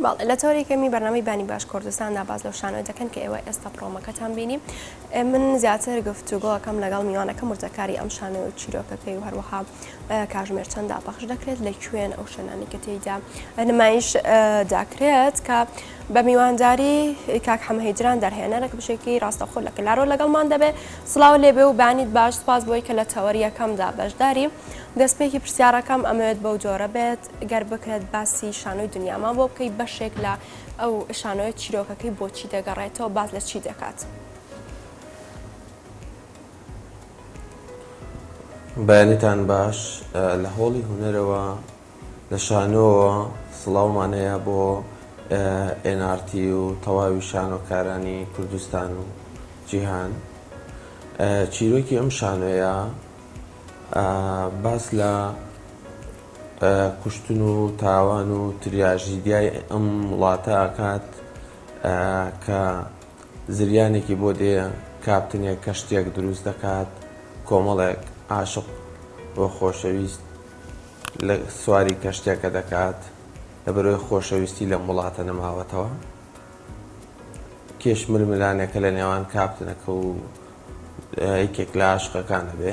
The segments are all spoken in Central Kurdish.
بەڵێ لە تۆری کەمی بەرنامەی بانی باش کوردستاندا باز لەو شانۆ دەکەن کە ئێوە ئێستا پرۆمەکەتان بینی من زیاتر گفت و گۆکەم لەگەڵ میوانەکە مرتەکاری ئەم شانۆ و چیرۆکەکەی و هەروەها کاژمێر چەندا پەخش دەکرێت لە کوێن ئەو شوێنانی کە تێیدا نمایش داکرێت کە بە میوانداری کاک حەمەهیدران دەرهێنەرە کە بشێکی ڕاستەخۆ لە کلارۆ لەگەڵمان دەبێت سلااو لێبێ و بانیت باش سپاس بۆی کە لە تەوەریەکەمدا بەشداری دەستپێکی پرسیارەکەم ئەمەوێت بەو جۆرە بێت گەر بکرێت باسی شانۆی دنیامان بۆ بکەی بەشێک لە ئەو شانۆی چیرۆکەکەی بۆچی دەگەڕێتەوە باز لە چی دەکات؟ بەیانتان باش لە هۆڵی هوەرەوە لە شانۆەوە سڵاومانەیە بۆ NRT و تەواوی شانۆکارانی کوردستان و جیهان چیرۆکی ئەم شانۆیە باس لە کوشتن و تاوان و تریاژیدیای ئەم وڵاتە ئەکات کە زریانێکی بۆ دێ کاپتنێک کەشتیەک دروست دەکات کۆمەڵێک عاشق و خۆشەویست لە سواری کەشتێکە دەکات لە بەرۆی خۆشەویستی لەم وڵاتە نەماوەتەوە کێش ململانێکە لە نێوان کاپتنەکە و یەکێک لە عاشقەکانە بێ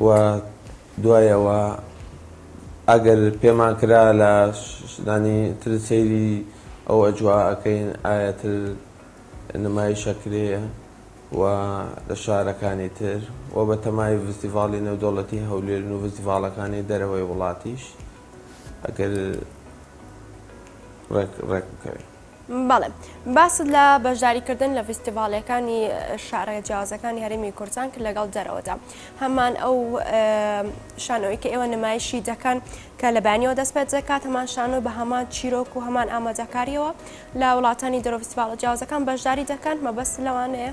و دوای ئەوە ئەگەر پێمان کرا لە شتانی تر سەیری ئەو ئەجوا ئەکەین ئایا تر نمایش ئەکرێ و لە شارەکانی تر و بە تەمای ڤستیڤاڵی نێودەوڵەتی هەولێرن و ڤستیڤاڵەکانی دەرەوەی وڵاتیش ئەگەر ڕێک ڕێک بکەوێ. بەڵێ باست لە بەشداریکردن لە فیستیڤالەکانی شارە جیازەکانی هەرمی کوردستان کرد لەگەڵ دەرەوەدا هەمان ئەو شانەوەی کە ئێوە نمایشی دەکەن کە لە بەیانەوە دەست پێ دەکات هەمان شانۆ بە هەمان چیرۆک و هەمان ئامادەکاریەوە لە وڵاتانی دەرەوە فیستیڤالە جیازەکان بەشداری دەکەن مەبەست لەوانەیە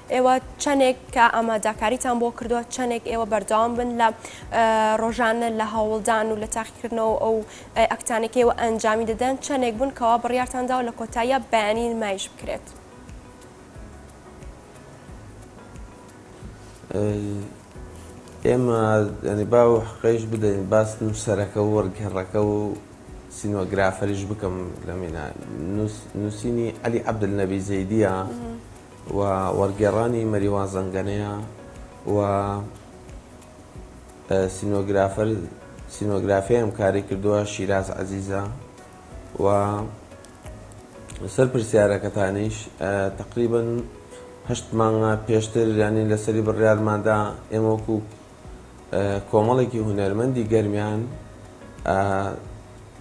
ئێوە چەنێک کە ئاماداکاریتان بۆ کردووە چەنێک ئێوە بەردەوام بن لە ڕۆژانە لە هەوڵدان و لە تاقیکردنەوە ئەو ئەکتانەکەی و ئەنجامی دەدەن چەنێک بوون کەوا بڕارتاندا و لە کۆتاییە بەیانی نمایش بکرێت. ئێمە ئەنی با و حقیش بدەین باس نووسەرەکە و وەرگێڕەکە و سینۆگرافەریش بکەم لە مینە نووسینی علی عبدل نەبی زەیدیە. و وەرگێڕانی مەریوان زەنگەنەیە و سینۆگرافەر سینۆگرافی ئەم کاری کردووە شیراز عەزیزە و سەر پرسیارەکەتانیش تقریبن هەشت مانگە پێشتر ینی لەسەری بڕیارماندا ئێمە وەکو کۆمەڵێکی هونەرمەندی گەرمیان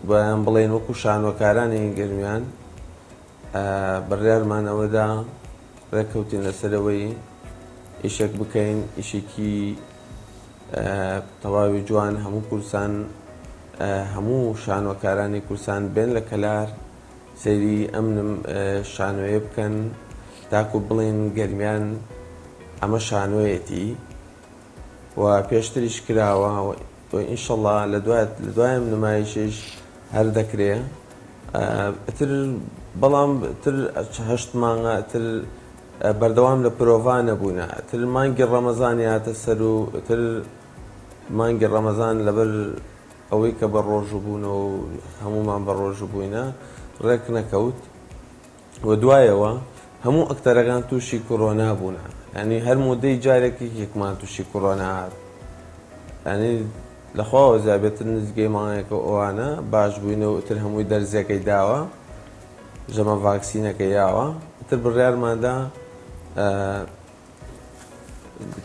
بەیان بڵێن وەکو شانۆکارانی گەرمیان بڕیارمان ئەوەدا ڕێککەوتین لەسەر ئەوەی ئیشێک بکەین ئیشێکی تەواوی جوان هەموو کورسان هەموو شانۆکارانی کورسان بێن لە کەلار سەیری ئەم شانۆیە بکەن تاکو بڵین گەرمیان ئەمە شانۆیەتی و پێشتریش کراوە تۆ ئینشەڵا لە دوایت لە دوایم نمایشیش هەر دەکرێ ئیتر بەڵام تر هەشت مانگە تر بەردەوام لە پرۆڤا نەبوونا تر مانگی ڕەمەزان هاتە سەر و تر مانگی ڕەمەزان لەبەر ئەوەی کە بە ڕۆژوو بوونەوە هەمومان بە ڕۆژوو بووینە ڕێک نەکەوت و دوایەوە هەموو ئەکتەرەکان تووشی کۆرۆنا بوونە یانی هەر مودەی جارێک یەکێکمان تووشی کۆرۆنا هات یانی لەخواوە زیابێتتر نزگەی مانگێکە ئەوانە باش بووینەوە ئتر هەمووی دەرزیەکەی داوە ژەمە ڤاکسینەکە یاوە ئتر بڕیارماندا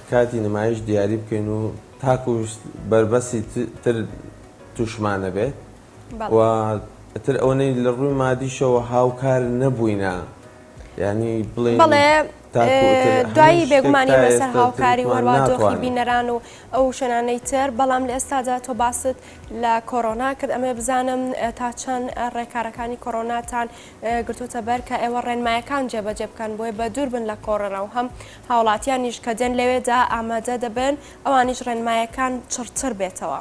کاتی نمایش دیاری بکەین و تاکوش بەربەسی تر تووشمانە بێت و ئیتر ئەوەنەی لە ڕووی مادیشەوە هاوکار نەبووینە یانی بڵێ دوایی بێگومانی مەسەر هاوکاری وەروادۆخی بینەران و ئەو شوێنانەی تر بەڵام لە ئێستادا تۆ باست لە کۆرۆنا کرد ئەمێ بزانم تا چەند ڕێکارەکانی کۆرۆناتان گرتوتە بەر کە ئێوە ڕێنمایەکان جێبەجێ بکەن بۆی بە دوور بن لە کۆڕەرە و هەم هاوڵاتیانیش کە دێن لەوێدا ئامادە دەبن ئەوانیش ڕێنمایەکان چڕتر بێتەوە.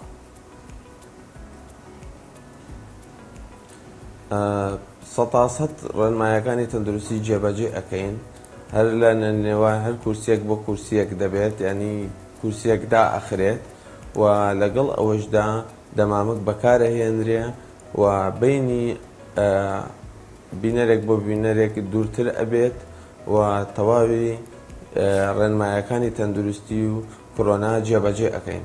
سەتاسەت ڕێنمایەکانی تەندروستی جێبەجێ ئەکەین هەر لە نێوان هەر کورسیەک بۆ کورسیەک دەبێت ینی کورسیەک دائەخرێت و لەگەڵ ئەوەشدا دەمامک بەکارەهێنرێ و بینی بینەرێک بۆ بینەرێک دوورتر ئەبێت و تەواوی ڕێنمایەکانی تەندروستی و کۆرۆنا جێبەجێ ئەەکەین.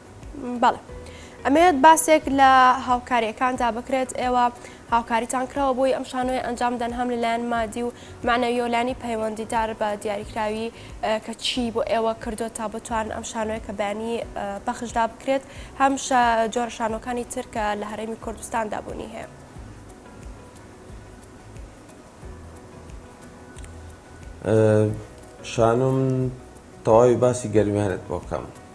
بەڵێ ئەمەوێت باسێک لە هاوکاریەکاندا بکرێت ئێوە هاوکاریتان کرەوە بۆی ئەم شانۆی ئەنجام دەن هەم لەلایەن مادی و معنەویۆلانی پەیوەندیدار بە دیاریکراوی کە چی بۆ ئێوە کردو تا بتوان ئەم شانۆی کە بەیانی پەخشدا بکرێت هەم جۆر شانۆکانی ترکە لە هەرێمی کوردستاندا بوونی هەیە. شانۆم تەواوی باسی گەرمیانت بۆکەم.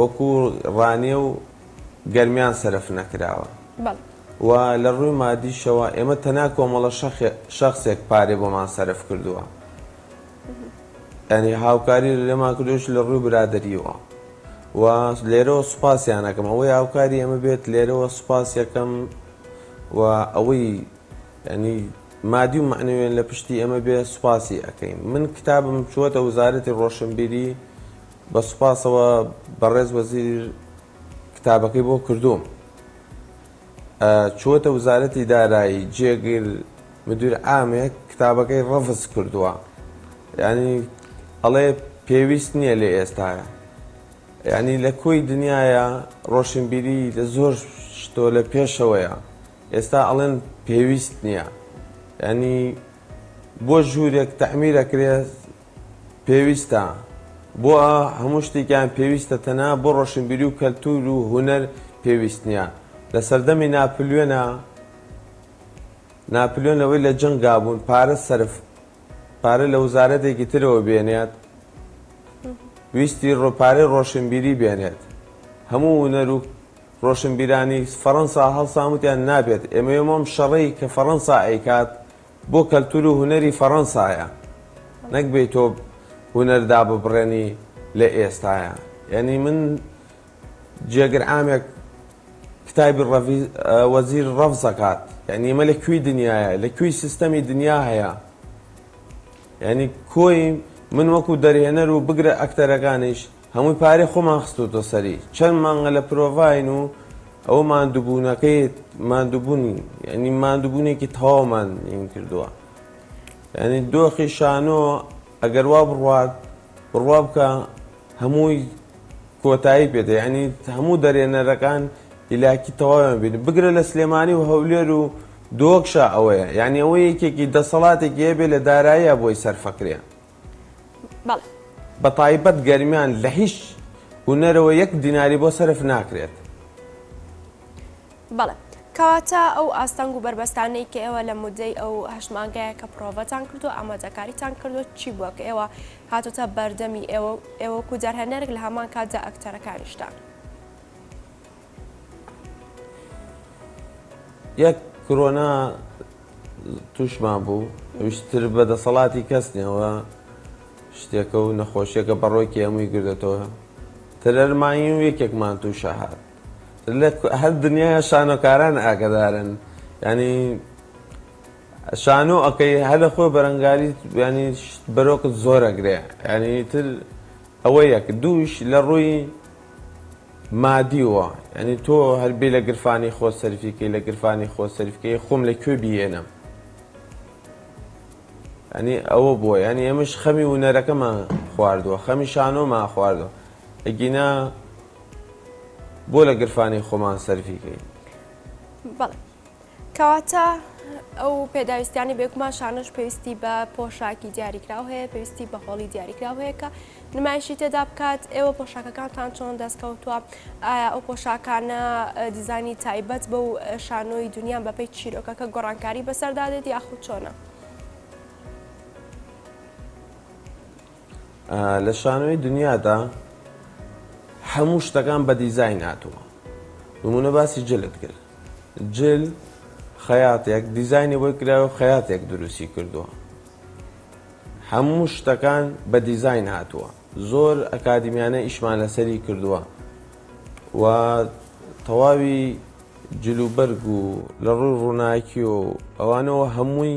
وەکو ڕانیە و گەرمیان سەرف نەکراوە و لە ڕووی مادیشەوە ئێمە تەنها کۆمەڵە شەخسێک پارەی بۆمان سەرف کردووە یانی هاوکاری لێمان کردوش لە ڕووی برادەریەوە و لێرەوە سوپاسیانەکەم ئەوەی هاوکاری ئێمە بێت لێرەوە سوپاسیەکەم و ئەوەی ینی مادی و معنەوێن لە پشتی ئێمە بێ سوپاسی ئەەکەین من کتابم چووەتە وزارەتی ڕۆشنبیری بە سوپاسەوە بەڕێز وەزیر کتابەکەی بۆ کردووم چووەتە وزارەتی دارایی جێگر مدیر ئامێک کتابەکەی ڕەفز کردووە ینی ئەڵێ پێویست نییە لە ئێستاە ینی لە کۆی دنیاە ڕۆشنبیری لە زۆر شتۆ لە پێشەوەیە ئێستا ئەڵێن پێویست نییە ینی بۆ ژوورێک تەعمیرەکرێت پێویستە بۆ هەموو شتێکیان پێویستە تەنها بۆ ڕۆشنبیری و کەلتور و هونەر پێویست نیە لە سەردەمی ناپلیۆنا ناپلیۆن لەوەی لە جەنگا بوون پارە سەرف پارە لە وزارەتێکی ترەوە بێنێت ویستی ڕۆ پارەی ڕۆشنبیری بێنێت هەموو هونەر و ڕۆشنبیرانی فەڕەنسا هەڵساموتیان نابێت ئێمە ئێمەم شەڕەی کە فەڕەنسا ئەیکات بۆ کەلتور و هونەری فەڕەنسایە نەک بێی تۆ هونەر داببڕێنی لە ئێستایە یەنی من جێگر عامێک کتابی ڕەڤی وەزیر ڕەفز ئەکات یەنی ئێمە لە کوێی دنیایە لە کوێی سیستەمی دنیا هەیە یەنی کۆی من وەکو دەرهێنەر و بگرە ئەکتەرەکانیش هەمووی پارەی خۆمان خستۆتە سەری چەند مانگە لە پرۆڤاین و ئەوە ماندووبوونەکەی ماندووبوون یعنی ماندووبوونێکی تەواومان ین کردووە یعنی دۆخی شانۆ ئەگەر وا بڕوات بڕوا بکە هەمووی کۆتایی پێدە یعنی هەموو دەرێنەرەکان ئیلاکی تەواویان بینی بگرە لە سلێمانی و هەولێر و دۆکشا ئەوەیە یعنی ئەوە یەکێکی دەسەڵاتێکی هەبێ لە داراییە بۆی سەرفەکرێ بەڵێ. بە تایبەت گەرمیان لە هیچ هونەرەوە یەک دیناری بۆ سەرف ناکرێت. بەڵێ. کەواتە ئەو ئاستەنگ و بەربەستانەی کە ئێوە لە مودەی ئەو هەشت مانگەیە کە پڕۆڤەتان کردووە ئامادەکاریتان کردووە چی بووە کە ئێوە هاتوتە بەردەمی ئێوە ئێوەکو دەرهەنەرێک لە هەمان کاتدا ئەکتەرەکانیشتان؟ یەک کرۆنا تووشمان بوو ویشتر بە دەسەڵاتی کەس نێەوە شتێکە و نەخۆشیەکە بەڕۆکی هەمووی گردێتەوە تەرەرمایی و یەکێکمان تووشە هاات لە هەر دنیا شانۆکاران ئاگدارن ینی شانۆ ئەەکەی هەر لە خۆی بەرەنگاری ینی بەرۆکت زۆرەگرێ ینی تر ئەوە یەک دووش لە ڕووی مادی وە یانی تۆ هەر بێ لە گرفانی خۆت سەرفی کەی لە گرفانی خۆت سەرف کەی خۆم لە کوێ بیێنم یانی ئەوە بووە یانی ئێمەش خەمی ونەرەکەمان خواردووە خەمی شانۆمان خواردووە ئەگینا بۆ لە گرفانی خۆمان سەرفی کەین بەڵێ کەواتە ئەو پێداویستیانی بێگومان شانۆش پێویستی بە پۆشاکی دیاریکراو هەیە پێویستی بە هۆڵی دیاریکراو هەیە کە نمایشی تێدا بکات ئێوە پۆشاکەکانتان چۆن دەستکەوتووە ئایا ئەو پۆشاکانە دیزانی تایبەت بە و شانۆی دنیا بەپی چیرۆکەکە گۆڕانکاری بەسەردادێت یاخود چۆنە؟ لە شانۆی دنیادا هەموو شتەکان بە دیزاین هاتووە نمونە باسی جلت کرد جل خەیاتێک دیزانی بۆی کراوە خەیاتێک دروستی کردووە هەموو شتەکان بە دیزاین هاتووە زۆر ئەکادیمیانە ئیشمان لەسەری کردووە و تەواوی جلوبەرگ و لە ڕووی ڕووناکی و ئەوانەوە هەمووی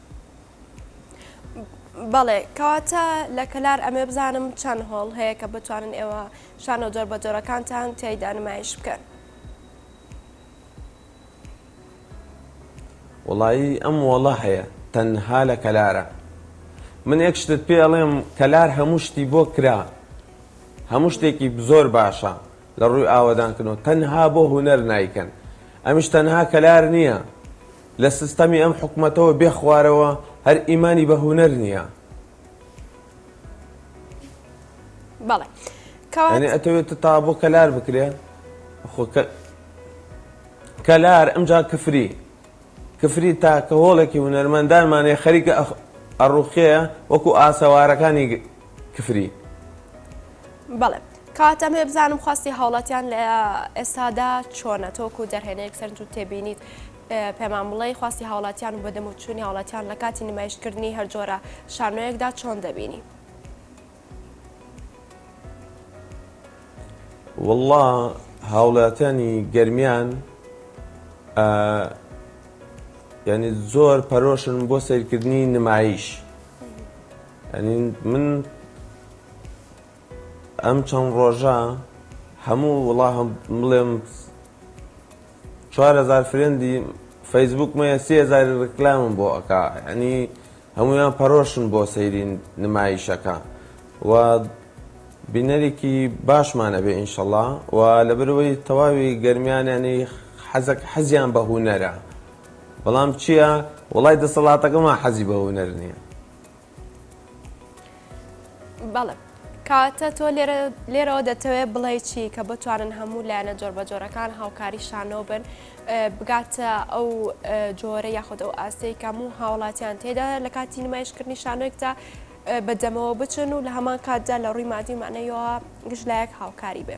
بەڵێ کەواتە لە کەلار ئەمێ بزانم چەند هۆڵ هەیە کە بتوانن ئێوە شانۆ جۆر بە جۆرەکانتان تیایدا نمایش بکەن وڵایی ئەم وەڵە هەیە تەنها لە کەلارە من یەک شتت پێ ئەڵێم کەلار هەموو شتی بۆ کرا هەموو شتێکی زۆر باشە لە ڕووی ئاوەدانکردنەوە تەنها بۆ هوەر نایکەن ئەمیش تەنها کەلار نییە لە سستەمی ئەم حکومەتەوە بێ خوارەوە هەر ئیمانی بە هونەر نیە. بەڵێ کەواتە یانی ئەتەوێت تە تا بۆ کەلار بکرێ خۆ کە- کەلار ئەمجا کفری کفری تاکە هۆڵێکی هونەرمەندانمانەیە خەریکە ئەخ- ئەڕوخێ وەکو ئاسەوارەکانی گ- کفری. بەڵێ کاکە ئەمەوێ بزانم خواستی هاوڵاتیان لە ئێستادا چۆنە تۆک و دەرهێنەیەک سەرنج و تێبینیت پێمان بڵێ خواستی هاوڵاتیان و بەدەم و چووی هاوڵاتیان لە کاتی نمایشکردنی هەرجۆرە شانۆیەکدا چۆن دەبینی والله هاوڵاتیانی گەرمیان یعنی زۆر پەرۆشن بۆ سیرکردنی نمایش. یانی من ئەم چەند ڕۆژە هەموو وڵا هەم بڵێم چوار هەزار فرێندی فەیسبوکمەیە سێ هەزاری ڕکلامم بۆ ئەکا یعنی هەمویان پەرۆشن بۆ سەیری نمایشەکە و بینەرێکی باشمانە بێ ئینشەڵا و لەبەرەوەی تەواوی گەرمیانیانی حەزەک حەزیان بە هوونەرە بەڵام چییە وڵای دەسەڵاتەکەمان حەزی بە هوونەر نییە بەڵێ کاتە تۆ لێرەوە دەتەوێت بڵێ چی کە بتوانن هەموو لایەنە جۆربەجۆرەکان هاوکاری شانۆ بن بگاتە ئەو جۆرە یاخود ئەو ئاستەی کەم و هاوڵاتیان تێدا لە کاتی نمایشکردنی شانۆێکدا بەدەمەوە بچن و لە هەمان کاتدا لە ڕووی مادی مانەیەوە گشت لایەک هاوکاری بێ.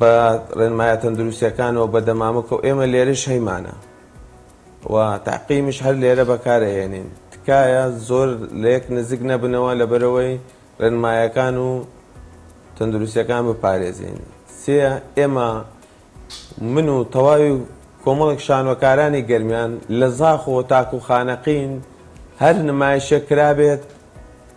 بە ڕێنمایە تەندروستیەکانەوە بە دەمامک و ئێمە لێرەش هەیمانە و تەعقیمیش هەر لێرە بەکار ئەهێنین تکایە زۆر لەیەک نزیک نەبنەوە لەبەرئەوەی ڕێنمایەکان و تەندروستیەکان بپارێزین سێ ئێمە من و تەواوی کۆمەڵێک شانۆکارانی گەرمیان لە زاخۆ تاکو خانەقین هەر نمایشێک کرابێت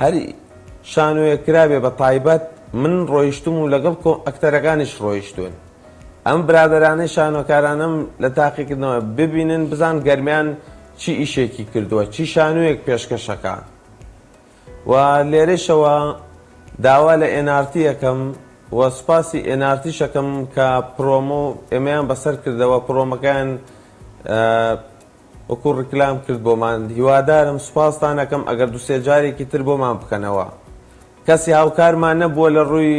هەر شانۆیەک کرابێ بە تایبەت من ڕۆیشتووم و لەگەڵ کۆ ئەکتەرەکانیش ڕۆیشتوون ئەم برادەرانەی شانۆکارانەم لە تاقی کردنەوە ببینن بزان گەرمیان چی ئیشێکی کردووە چی شانۆیەک پێشکەشەکا و لێرەشەوە داوا لە ئێنارتی ئەکەم و سوپاسی ئێنارتیش ئەکەم کە پرۆمۆ ئێمەیان بەسەر کردەوە پرۆمەکەیان وەکو ڕیکلام کرد بۆمان هیوادارم سوپاستان ئەکەم ئەگەر دوسێ جارێکی تر بۆمان بکەنەوە کەسی هاوکارمان نەبووە لە ڕووی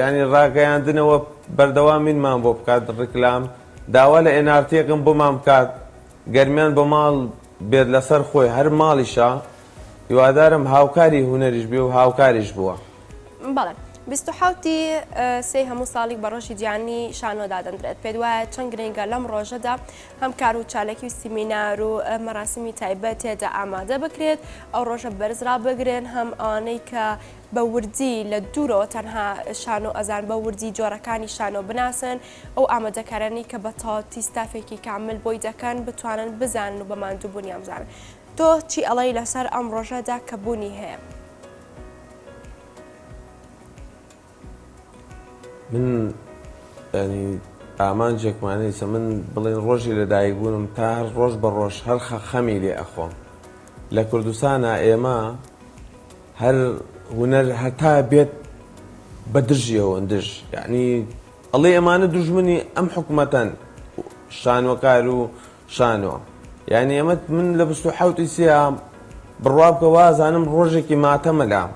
یانی ڕاگەیاندنەوە بەردەوامینمان بۆ بکات ڕیکلام داوا لە ئێنارتیەکەم بۆمان بکات گەرمیان بۆ ماڵ بێت لەسەر خۆی هەر ماڵیشە. هیوادارم هاوکاری هونەریش بێ و هاوکاریش بووە. بەڵێ. بیست و حەوت ی سێی هەموو ساڵیک بە ڕۆژی جیهانی شانۆ دادەندرێت، پێت وایە چەند گرنگە لەم ڕۆژەدا هەم کار و چالاکی و سیمینار و مەراسیمی تایبەت تێدا ئامادە بکرێت، ئەو ڕۆژە بەرز ڕابگرن، هەم ئەوانەی کە بە وردی لە دوورەوە تەنها شانۆ ئەزانن بە وردی جۆرەکانی شانۆ بناسن، ئەو ئامادەکارانەی کە بە تەواوتی ستافێکی کامل بۆی دەکەن بتوانن بزانن و بە ماندووبوونیان بزانن. تۆ چی ئەڵێی لەسەر ئەم ڕۆژە دا کە بونی هەیە. من ینی ئامانجێکمان نیە من بڵێن ڕۆژی لە دایک بوونم تا هەر ڕۆژ بە ڕۆژ هەر خە خەمی لێ ئەخۆم لە کوردستانا ئێمە هەر هونەر هەتا بێت بە دژیەوەن دژ یعنی ئەڵێ ئەمانە دژمنی ئەم حکوومەتەن شانۆکار و شانۆ یانی ئەمە من لە بیست و حەوت ی سیام بڕوا بکە وازانم ڕۆژێکی ماتەمە لام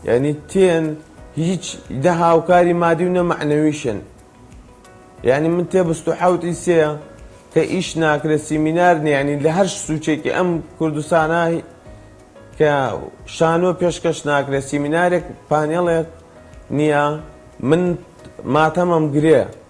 یانی تێن هیچ نە هاوکاری مادی و نە مەعنەویشن یانی من تێ بیست و حەوت ی سێ کە ئیش ناکرێت سیمینار نیە یانی لە هەر سوچێکی ئەم کوردستانە کە شانۆ پێشکەش ناکرێت سیمینارێک پانێڵێک نیە من ماتەمەم گرێ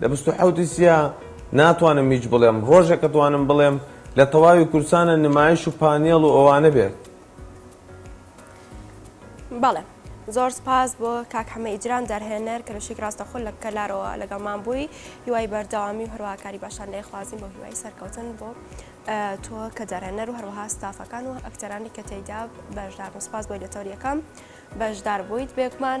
لە بیست و حەوت ی سیا ناتوانم هیچ بڵێم ڕۆژێک ئەتوانم بڵێم لە تەواوی کوردسانە نمایش و پانێڵ و ئەوانە بێت. بەڵێ زۆر سپاس بۆ کاک حەمە ئیجرام دەرهێنەر کەلوشیک ڕاستەخۆ لە کەلارەوە لەگەڵمان بووی هیوای بەردەوامی و هەروەکاری باشان لێ خوازیم بۆ هیوای سەرکەوتن بۆ تۆ کە دەرهێنەر و هەروەها ستافەکان و ئەکتەرانی کە تێیدا بەشدار سپاس بۆی لە تەوریەکەم بەشدار بوویت بێکمان